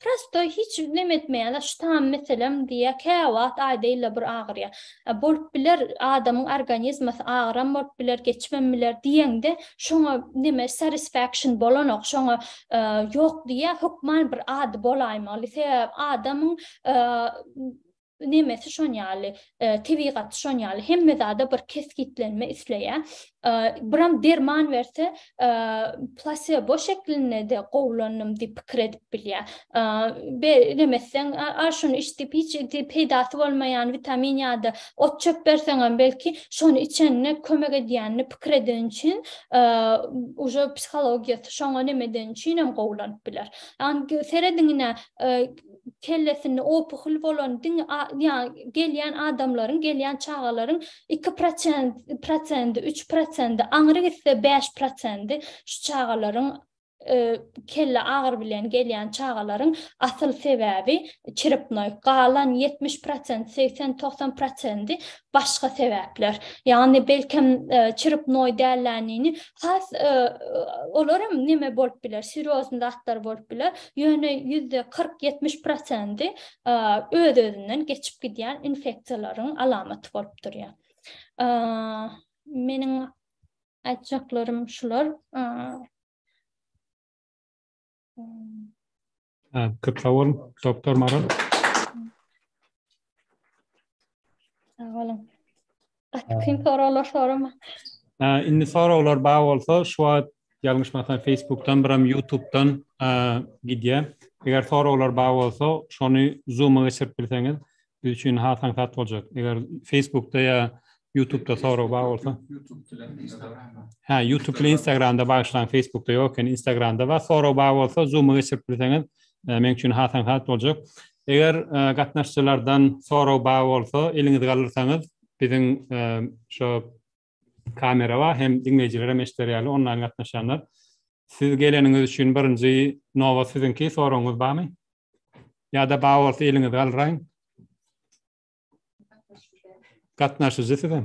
Speaker 2: prosto hiç nem etmeýä şu tam meselem diýä käwagt aýdaýla bir agyrýa bolup biler adamyň organizmasy agyram bolup biler geçmem biler diýeňde şoňa neme satisfaction bolanok şoňa ýok diýä hökman bir ady bolaýmaly sebäbi adamyň nemesi şon ýaly, tebigaty şon ýaly, hemme zada bir kesgitlenme isleýär. Biram derman berse, plasebo şeklinde-de gowulandym diýip pikir edip bilýär. Be, nemesden, a, şuny iç diýip, hiç peýdasy bolmaýan witamin ýa-da ot-çöp berseňem, belki, şony içende kömek edýänini pikir edeni üçin, uje psihologiýasy şoňa neme edeni üçinem gowulanyp biler. Ýagny, serediň ine, kellesinde opuhl bolan diňe ýaňy gelýän adamlaryň, gelýän çagalaryň iki proçent prosendi, üç prosendi, aňry gitse bäş prosendi şu çagalaryň kelle agyry bilen gelýän çagalaryň asyl sebäbi çiripnoý, galan ýetmiş prosent, segsen, togsan prosendi başga sebäpler. Ýagny belkem çirip noý dälläniini has olaram neme bolup biler, serýozny zatlar bolup biler. Ýöne ýüzde kyrk, ýetmiş prosendi öz-özünden geçip gidýän infeksiýalaryň alamaty bolup durýar. Meniň aýtjaklarym şular.
Speaker 1: Köp sag bolun, doktor Maral. Sag
Speaker 2: bolun. Gaty soraglar sorama. Indi
Speaker 1: soraglar bar bolsa, şu wagt ýalňyşmasam Facebookdan, biram YouTube'dan gidýär. Eger soraglar bar bolsa, şony Zoom-a geçirip bilseňiz, Biz üçin has aňsat boljak. Eger Facebookda ýa YouTubeda sorag bar bolsa. Ha, YouTube bilen Instagramda bagyşlaň, Facebookda ýok eken, Instagramda bar. Sorag bar bolsa, Zoom-a geçirip bilseňiz, e, meň üçin has aňsat boljak. Eger e, gatnaşyjylardan sorag bar bolsa, eliňizi galdyrsaňyz, biziň e, şo Kamera bar, hem diňleýjilerem eşider ýaly onlaýn gatnaşýanlar. Siz geleniňiz üçin birinji nobat siziňki, soragyňyz barmy? Ýa-da bar bolsa eliňizi galdyraýyň. Gatnaşyjy sizem.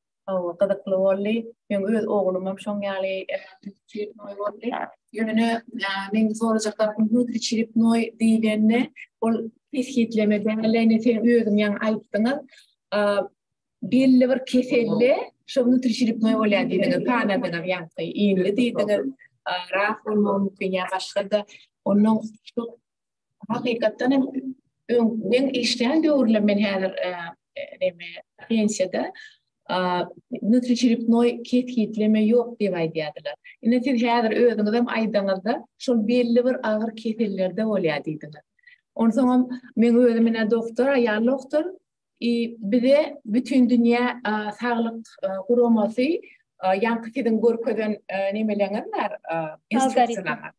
Speaker 3: Hawa, gyzykly boldy. Meň öz oglumam şoň ýaly çiripnoý boldy. Ýöne meň sorajak zatym hüwdi çiripnoý diýlende, ol kesgitleme däl, ine sen özüň ýaňy aýtdyňyz. Belli bir keselde şo hüwdi çiripnoý bolýar diýdiňiz, sanadyňyz ýaňky ýyly diýdiňiz. Rak bolmagy mümkin ýa başga-da. Onuň hakykatdan hem men işleýän döwürle men häzir e, näme pensiýada nutriçeripnoý kesgitleme ýok diýip aýdýardylar. Ine siz häzir özüňiz hem aýdaňyzda şol belli bir agyr kesellerde bolýar diýdiňiz. Onsoň hem men özüm ine doktor, aýal doktor, i bize bütün dünýä saglyk guramasy ýaňky siziň görkezen nemeleňiz bar, instruksiýalaryňyz.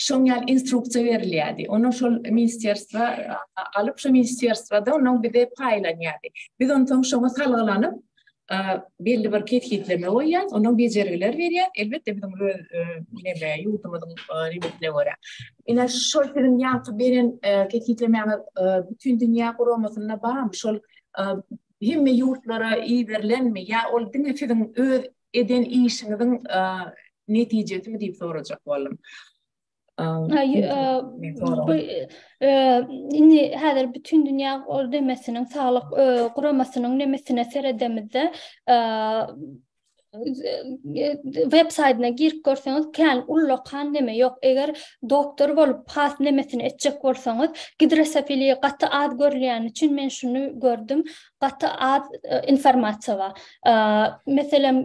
Speaker 3: şoň ýaly instruksiýa berilýärdi. Onu şol ministrsiýa alyp, şo ministrsiýada onuň bize paýlanýardy. Biz onuň soň şoňa salgylanyp, belli bir kesgitleme goýýar, onuň bejergiler berýär. Elbetde biziň öz ýerli ýurdumyzyň limitine görä. Ine şol siziň ýaňky beren kesgitlemäňe bütin dünýä guramasynda barmy? Şol hemme ýurtlara iberilenmi ýa ol diňe siziň öz eden işiňiziň netijesimi diýip sorajak boldum. Bu
Speaker 2: indi häzir bütün dünýä demesiniň saglyk guramasynyň nemesine seredemizde web saýtyna girip görseňiz kän ullakan neme ýok eger doktor bolup has nemesini etjek bolsaňyz gidrosofiliýa gaty az görülýän üçin men şuny gördüm gaty az e, informasiýa bar. E, meselem,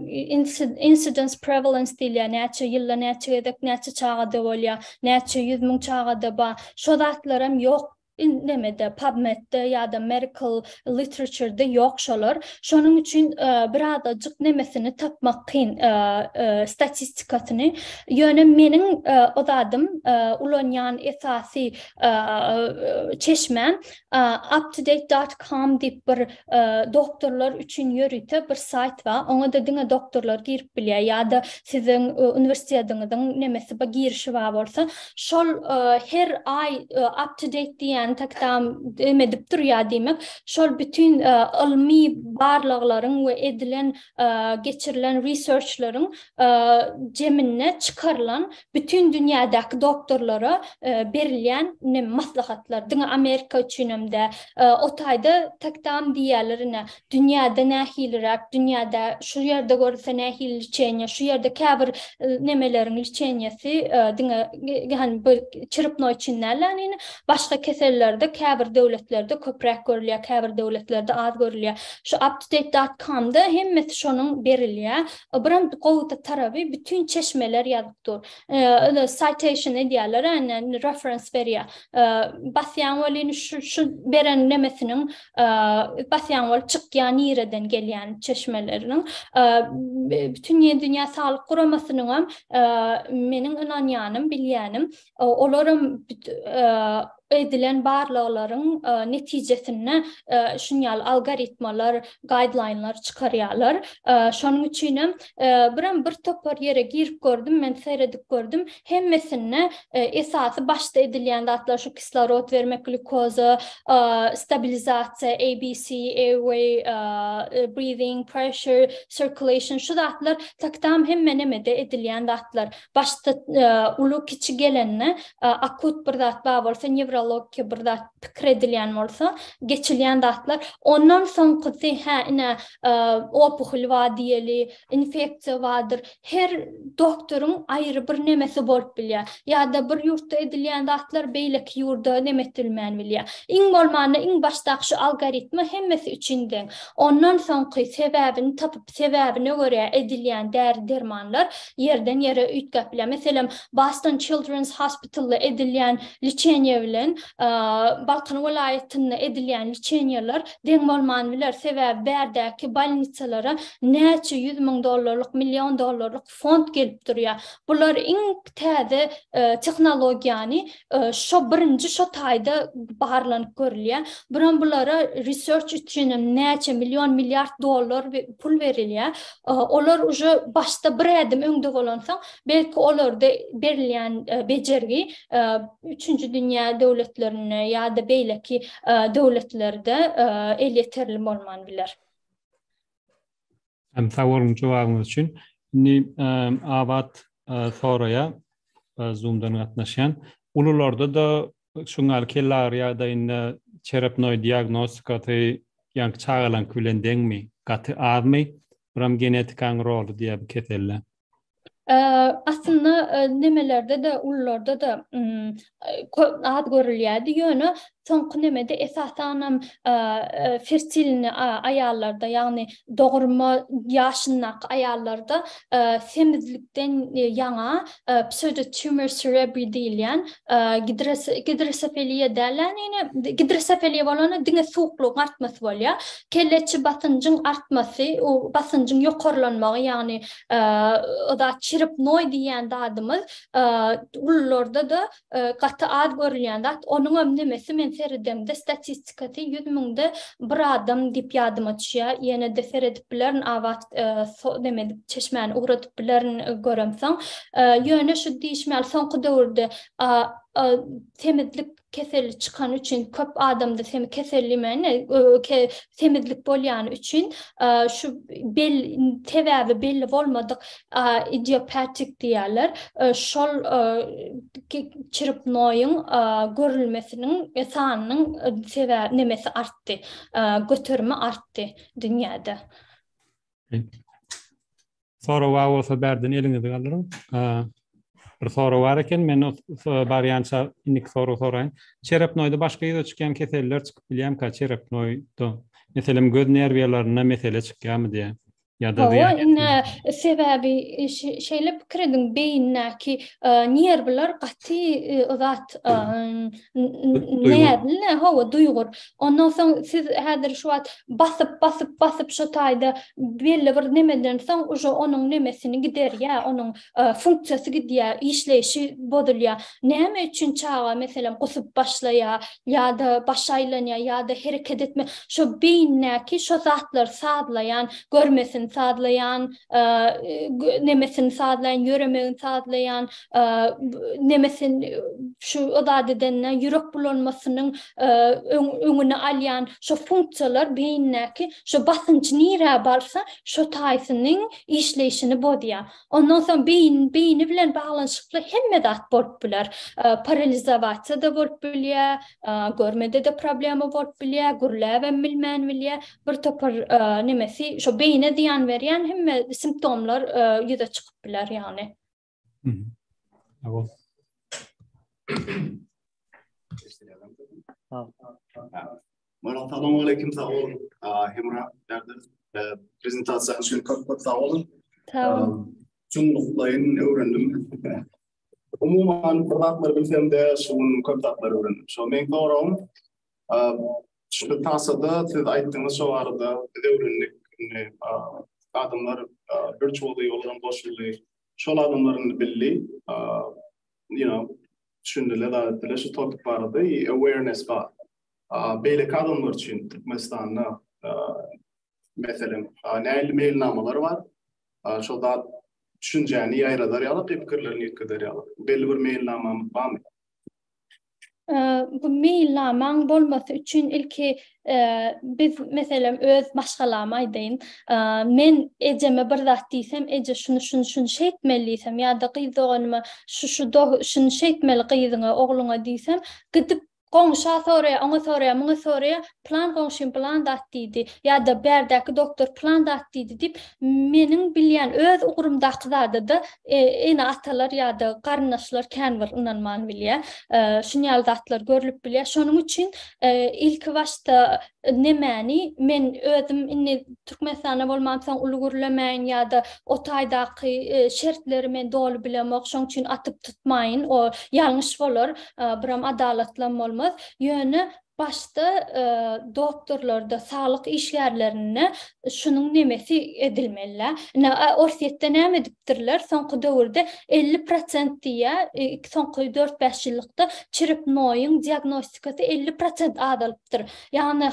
Speaker 2: incidence prevalence diýilýär, näçe ýylda näçe gezek näçe çagada bolýar, näçe ýüz müň çagada bar. Şo zatlar hem ýok nemede PubMed-de ýa-da medical literature-de ýok şolar. Şonuň üçin e, bir azajyk nemesini tapmak kyn e, e, statistikasyny. Ýöne meniň e, o zadym e, ulanýan esasy e, çeşmäm Uptodate dot com diýip bir doktorlar üçin ýörite bir saýt bar. Oňa-da diňe doktorlar girip bilýär ýa-da siziň uniwersitetiňiziň nemesi bar, girişi bar bolsa, şol her aý uptodate diýýän tak tam dem edip durýar diýmek, şol bütin ylmy barlaglaryň we edilen, geçirilen research-laryň jeminde çykarylan Bütin dünýädäki doktorlara berilýän ine maslahatlar, diňe Amerika üçinem däl. O taýda tak tam diýýärler ine, dünýäde nähiliräk, dünýäde şu ýerde görülse nähili liçeniýe, şu ýerde käbir nemeleriň liçeniýesi diňe hany bu çyrpma üçin däl däl ine, başga kesellerde käbir döwletlerde köpräk görülýär, käbir döwletlerde az görülýär. Şu Aptudeit. Komda hemmesi şonuň berilýär. Ybram gowda taraby bütün çeşmeler ýazyp dur. Öňe citation edýärler, ýani reference berýär. Basýaň welin şu şu beren nemesiniň basýaň bolup çykýar nireden gelýän çeşmeleriniň. Bütün ýe dünýä saglyk guramasynyňam meniň ynanýanym, bilýänim olaram edilen barlaglaryň netijesinde şuny ýaly algoritmalar, gaýdlaýnlar çykarýarlar. Şonuň üçinem birem bir topar ýere girip gördüm, men seredip gördüm, hemmesinde esasy başda edilýän zatlar şu kislorod bermek, glýukoza, stabilizasiýa, ABC, airway, breathing, pressure, circulation şu zatlar taktam hemme nemede edilýän zatlar. başda uly kiçi gelende akut bir zat bar bolsa newrologiki bir zat pikir edilýän bolsa geçilýän zatlar ondan soňkusy hä ine opuhul bar diýeli infeksiýa bardyr her doktoryň aýry bir nemesi bolup bilýär ýa-da bir ýurtda edilýän zatlar beýleki ýurda neme edilmän bilýär iň bolmanda iň başdaky şu algoritma hemmesi üçin deň ondan soňky sebäbini tapyp Sebäbine görä edilýän däri-dermanlar ýerden-ýere üýtgäp bilýär. Meselem, Boston Children's Hospital-da edilýän liçeniýe bilen Balkan welaýatynda edilýän liçeniýeler deň bolman biler. Sebäbi bärdäki bolnitsalara näçe ýüz müň dollarlyk, million dollarlyk fond gelip durýar. Bular iň täze tehnologiýany şo birinji şo taýda barlanyp görülýär. Buram bulara research üçinem näçe million milliard dollar pul berilýär. Olar uje başda bir ädim öňde bolansoň, belki olarda berilýän bejergi üçünji dünýä döwletlerinde ýa-da beýleki döwletlerde elýeterli bolman biler. Hem
Speaker 1: sag boluň jogabyňyz üçin. Indi Abat soraýar Zoomdan gatnaşýan. Ulularda-da şuň ýaly kellagyry ýagdaýynda çerepnoý diagnostikasy ýaňky çagalaňky bilen deňmi, gaty azmy? Buram genetikaň roly diýýär bu keselde. Aslynda
Speaker 2: nemelerde-de, ulularda-da az görülýärdi, ýöne soňky nemede esasanam fertilni aýallarda, ýagny dogurma ýaşyndaky aýallarda semizlikden ýaňa pseudotumor cerebri diýilýän gidrosefeliýa dälä, gidrosefeliýa bolanda diňe suwuklygyň artmasy bolýar. kelleçi basynjyň artmasy, u basynjyň ýokarlanmagy, ýagny o zat çiripnoý diýýän zadymyz ulularda-da gaty az görülýän zat. Onuňam nemesi men seredemde statistikasy ýüz müňde bir adam diýip ýadyma düşýär. Ýene-de seredip bilerin abat neme edip çeşmäni ugradyp bilerin göremsoň. Ýöne şu diýişim ýaly soňky döwürde semizlik keseli çykany üçin köp adamda semi keselli meni semizlik bolýany üçin şu bel sebäbi belli bolmadyk idiopatik diýerler şol çirip noýuň görülmesiniň sanynyň sebäbi nemesi artdy göterimi artdy dünýäde
Speaker 1: Sorag bar bolsa bärden eliňizi galdyryň. Bir sorag bar eken, men barýança indiki sorag soraýyn. Çerepnoýda başga ýüze çykýan keseller çykyp bilýärmika? Çerepnoýda, meselem, göz nerwiýalarynda mesele çykýarmy diýýär. Ýa-da zyýan ýetirýärmi? Sebäbi
Speaker 2: şeýle pikir ediň, beýindäki nerwler gaty zat näzli, hawa, duýgur. Ondan soň siz häzir şu wagt basyp basyp basyp şo taýda belli bir nemeden soň uje onuň nemesini giderýä onuň funksiýasy gidýä işleýşi bozulýa näme üçin çaga meselem gusup başlaýa ýada başy aýlanýa ýada hereket etme şo beýindäki şo zatlar sazlaýan görmesini sazlaýan nemesini sazlaýan ýöremegini sazlaýan nemesin şu o zat edende ýürek bulanmasynyň öňüni alýan şo funksiýalar beýindäki şo basynç nirä barsa, şo taýsynyň işleýşini bozýar. Ondan soň beýin, beýni bilen baglanyşykly hemme zat bolup biler. Paralizowasiýa-da bolup bilýär, görmede-de problema bolup bilýär, gürläbem bilmän bilýär. Bir topar nemesi, şo beýnä zyýan berýän hemme simptomlar ýüze çykyp biler ýagny.
Speaker 4: Murat salam aleyküm sag ol. Hemra derdiniz prezentasiýa üçin köp köp sag olun. Sag ol. Çuňluklaýyn öwrendim. Umuman bir zatlar bilsem de şu gün köp zatlar öwrendim. Şo men soragym şu tasada siz aýtdyňyz şo barada biz öwrendik. Adamlar bir çoly ýoldan goşuldy. Şol adamlar indi bildi, you know, düşündiler zat etdiler şu topic barada i awareness bar. Beýleki adamlar üçin Türkmenistanda meselem nähili meýilnamalar bar, şol zat düşünjäni ýaýradar ýaly pikirlerini ýetgeder ýaly. Belli bir meýilnamamyz barmy? bu
Speaker 2: meýilnamaň bolmasy üçin ilki biz meselem öz maşgalamy aýdaýyn. Men ejeme bir zat diýsem, eje şuny şuny şuny şeýtmeli diýsem ýa-da gyz doganyma şu şu şuny şeýtmeli gyzyňa, ogluňa diýsem, gidip goňşa soraýar, oňa soraýar, muňa soraýar, pylan goňşym pylan zat diýdi ýa-da bärdäki doktor pylan zat diýdi diýip, meniň bilýän öz ugrumdaky zada-da ene-atalar ýa-da garyndaşlar kän bir ynanman bilýär. Şuny ýaly zatlar görlüp bilýär. Şonuň üçin ilki başda nemäni men özüm indi Türkmenistanda bolmamsoň uly gürlemäýin ýa-da o taýdaky şertleri men doly bilemok, şonuň üçin atyp tutmaýyn, o ýalňyş bolar, buram adalatlam bolmaz. Ýöne Başda doktorlarda, saglyk işgärlerinde şunuň nemesi edilmeli-dä. Ine, Orsýetde näme edipdirler, soňky döwürde elli prosent diýýär, soňky dört-bäş ýyllykda çrepnoýyň diagnostikasy elli prosent azalypdyr. Ýagny,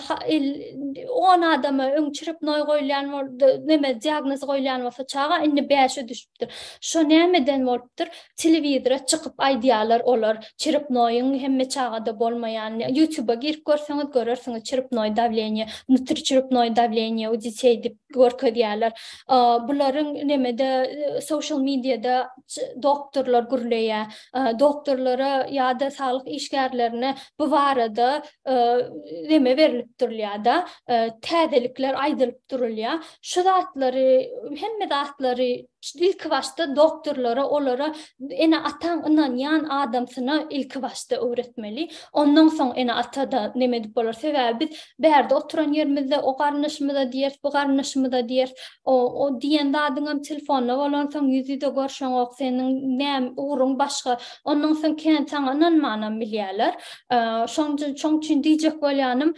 Speaker 2: on adama öň çrepnoý goýulýan bolsa, neme, diagnoz goýulýan bolsa çaga, indi bäşe düşüpdir. bolupdyr. Şo nämeden bolupdyr? Telewizora çykyp aýdýarlar olar, çiripnoýyň hemme çagada bolmaýanyny. Ýutuba girip görseňiz görersiňiz, çiripnoý dawleniýe, wnutriçiripnoý dawleniýe u детей diýip görkezýärler. Bularyň nämede, social mediada doktorlar gürleýär. Doktorlara ýa-da saglyk işgärlerine bu barada neme berlip durulýar-da, täzelikler aýdylyp durulýar. şu zatlary, hemme zatlary ilki başda doktorlara, olara ene-ataň ynanýan adamsyna ilki başda öwretmeli. Ondan soň ene-ata-da näme edip bolar? Sebäbi biz bärde oturan ýerimizde o garyndaşymyza diýeris, bu garyndaşymyza diýeris. O, o diýen zadyňam telefonda bolansoň ýüz-ýüze görşeňok, seniň näm, ugruň başga. Ondan soň kän saňa ynanmanam bilýärler. Şoň üçin, şoň üçin diýjek bolýanym,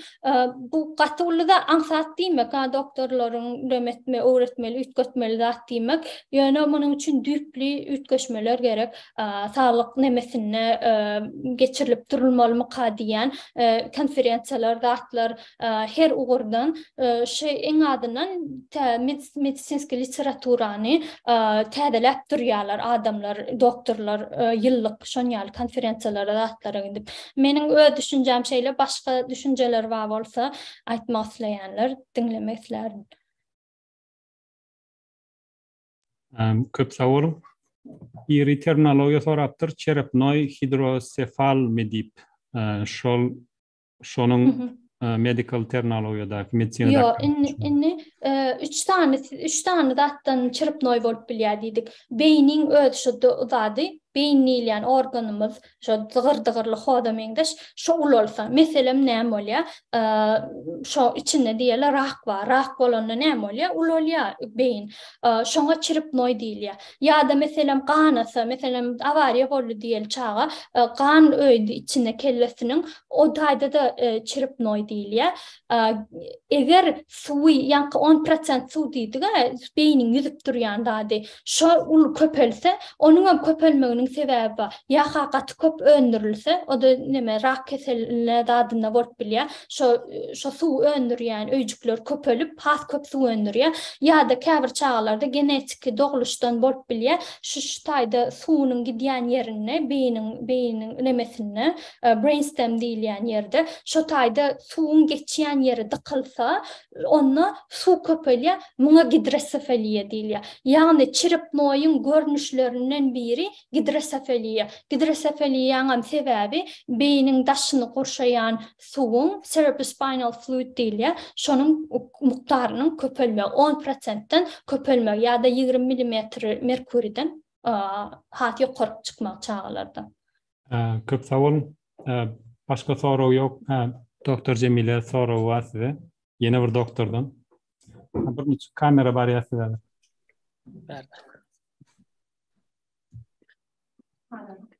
Speaker 2: Bu gaty uly zat, aňsat diýmek, ha doktorlaryň rem etme, öwretmeli, üýtgetmeli zat diýmek. Ýöne munuň üçin düýpli üýtgeşmeler gerek. Saglyk nemesinde geçirilip durulmalymyka diýýän konferensiýalar, zatlar her ugurdan şu iň azyndan medisinski literaturany täzeläp durýarlar adamlar, doktorlar ýyllyk şon ýaly konferensiýalara zatlara gidip. Meniň öz düşünjäm şeýle, başga düşünjeler bar bolsa aýtmak isleýänler diňlemek islärin.
Speaker 1: Köp sag boluň. Biri terminologiýa sorapdyr, çerepnoý hidrosefalmy diýip, şol şonuň medical terminologiýadaky medisina Ýok, indi indi
Speaker 2: üç sany üç sany zatdan çyrpnoý bolup bilýär diýdik. Beýniň öz şu zady, beýin diýilýän organymyz, şu zygyr-dygyrly hoda meňzeş, şu ulalsa, meselem näme bolýar? Şo içinde diýeli rak bar. Rak bolanda näme bolýar? Ulalýar beýin. Şoňa çyrpnoý diýilýär. Ýa-da, meselem, ganasa, meselem, awariýa boldy diýeli çaga, gan öýdi içine kellesiniň, o taýda-da çiripnoý diýilýär. Eger suwy, ýaňky on prosent suw diýdik-ä, beýniň ýüzüp durýan zady, şo uly köpelse, onuň hem köpelmeginiň sebäbi bar. Ýa-ha gaty köp öndürilse, o-da näme, rak keseline zadynda bolup bilýär. Şo, şo suwy öndürýän öýjükler köpelip, has köp suw öndürýär. Ýa-da käbir çagalarda genetiki, dogluşdan bolup bilýär. Şu şu taýda suwunyň gidýän ýerinde, beýniň beýiniň nemesinde, brain stem diýilýän ýerde, şo taýda suwuň geçýän ýeri dykylsa, onda suw köpelýär, muňa gidrosefaliýa diýilýär. Ýagny çirepnoýyň görnüşlerinden biri gidrosefaliýa. Gidrosefaliýaňam sebäbi beýniň daşyny gurşaýan suwuň cerebrospinal fluid diýilýär, şonuň mukdarynyň köpelmegi, on prosentden köpelmegi ýa-da ýigrimi milimetr merkuriden has ýokaryk çykmagy çagalarda. Köp
Speaker 1: sag boluň. Başga sorag ýok. Doktor Jemile soragy bar size. Ýene bir doktordan. Bir niçik kamera barýar size? Bärde.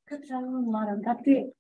Speaker 1: Köp sag boluň.
Speaker 5: Gaty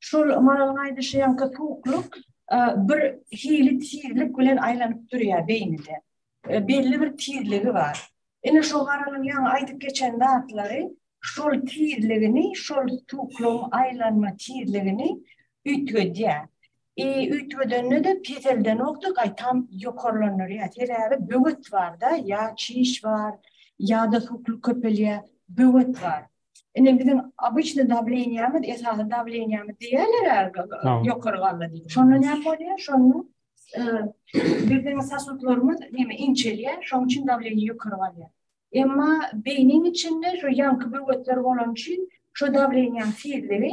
Speaker 5: Şol Maralyň aýdyşy ýaňky suwuklyk bir hili tizlik bilen aýlanyp durýar beýnide. Belli bir tizligi bar. Ine şo Maralyň ýaňy aýdyp geçen zatlary şol tizligini, şol suwuklygyň aýlanma tizligini üýtgedýär. I üýtgedende-de peseldenok-da gaýtam ýokarlandyrýar. Sebäbi böwet bar-da, ýa çiş bar, ýa-da suwuklyk köpelýär, böwet bar. Ine biziň obyçny dawleniýämiz, esasy dawleniýämiz diýýärler-ä, ýokary galdy diýip. Şonda näme bolýar? Şonda biziň sasudlarymyz näme inçelýär, şonuň üçin dawleniýe ýokary galýar. Emma beýniň içinde şu ýaňky böwetler bolany üçin şu dawleniýäň tizligi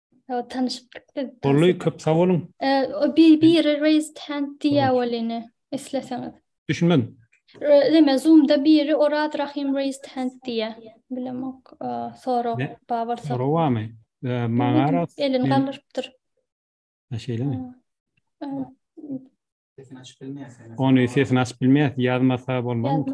Speaker 1: Sag tanyşypdyk
Speaker 2: biz. Bolly köp sag
Speaker 1: boluň. O bir biri
Speaker 2: raise hand diýä welini isleseňiz. Düşünmedim.
Speaker 1: Deme
Speaker 2: zoomda biri Oraz Rahim raise hand diýä. Bilemok. Sorag bar bolsa. Sorag barmy?
Speaker 1: Maňa elini galdyrypdyr.
Speaker 2: Ha şeýlemi? Sesini açyp
Speaker 1: bilmeýär. Ony sesini açyp bilmeýär. Ýazmasa bolmazmy?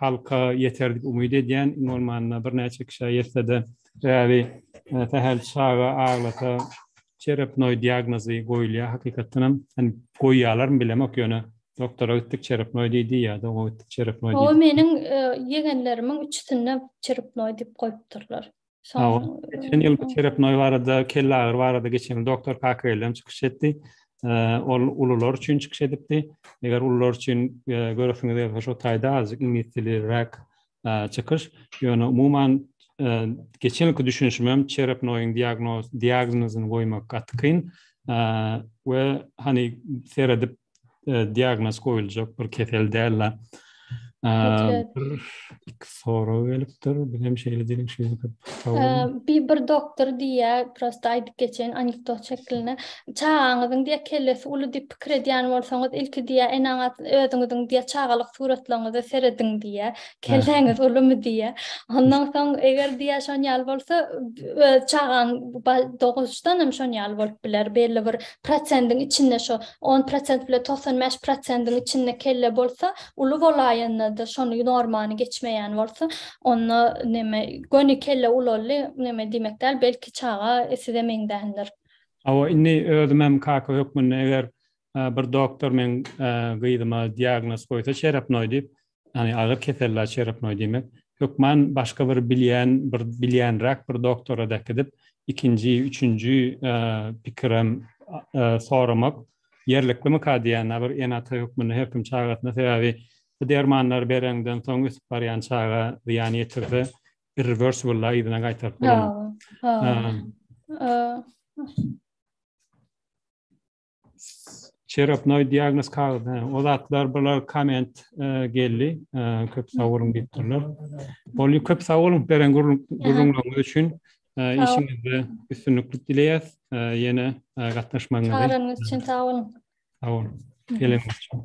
Speaker 1: halka ýeter diýip umyt edýän. Iň bolmanda birnäçe kişä ýetse-de, sebäbi sähel çaga aglasa çerepnoý diagnozy goýulýar hakykatdan hem. Indi goýýarlarmy bilemok, ýöne doktora gitdik çerepnoý diýdi ýa-da oňa gitdik çerepnoý diýdi. Hawa, meniň
Speaker 2: ýegenlerimiň üçüsinde çerepnoý diýip goýupdyrlar. Şoň geçen
Speaker 1: ýyl bu terapnoý barada, kelle agyry barada geçen ýyl doktor Kakrelem çykyş etdi. Ol ulular üçin çykyş edipdi. Eger ulular üçin göresiňiz gelse şo taýda azjyk iňlis dili rak çykyş. Ýöne umuman geçen ýylky düşünişimem terapnoýyň diagnoz diagnozyny goýmak gaty kyn. We hani seredip e, diagnoz goýuljak bir kesel däl-de. iki soru gelipdir. Bir hem şeýle diýiň şeýle köp. Bir bir
Speaker 2: doktor diýä, prosta aýdyp geçen anekdot şekline. Çagaňyzyň diýä kellesi uly diýip pikir edýän bolsaňyz, ilki diýä enaňa özüňiziň diýä çagalyk suratlaryňyza serediň diýä. Kelläňiz ulumy diýä. Ondan soň eger diýä şon ýaly bolsa, öz çagaň doguşdan hem şon ýaly bolup biler. Belli bir prosendiň içinde şo on prosent bile togsan bäş prosendiň içinde kelle bolsa uly bolaýanda-da şony normany geçmeýän bolsa onda neme göni kelle ulaldy neme diýmek däl belki çaga size meňzändir. Hawa indi
Speaker 1: özümem kaka hökmünde eger bir doktor meň gyzyma diagnoz goýsa şerapnoý diýip Ýagny agyr keselli oçerepnoý diýmek, hökman başga bir bilýän, bir bilýänräk bir doktora dakydip, ikinji, üçünji pikirem soramak ýerliklimikä diýýän, a bir ene-ata hökmünde her kim çagasyna, sebäbi bu dermanlary bereňden soň ösüp barýan çaga zyýan ýetirse, irreversible-a yzyna gaýtaryp bolmaz. Çerapnoý diagnoz kagyz. O zatlar bular komment e, geldi. E, köp sag boluň diýip durlar. Bol köp sag boluň beren gürrüňleriňiz üçin. E, işiňizde üstünlikli dileýäs. Ýene gatnaşmagyňyzy.
Speaker 2: Çagyranyňyz üçin
Speaker 1: sag boluň.
Speaker 2: Sag boluň. Geleňiz üçin.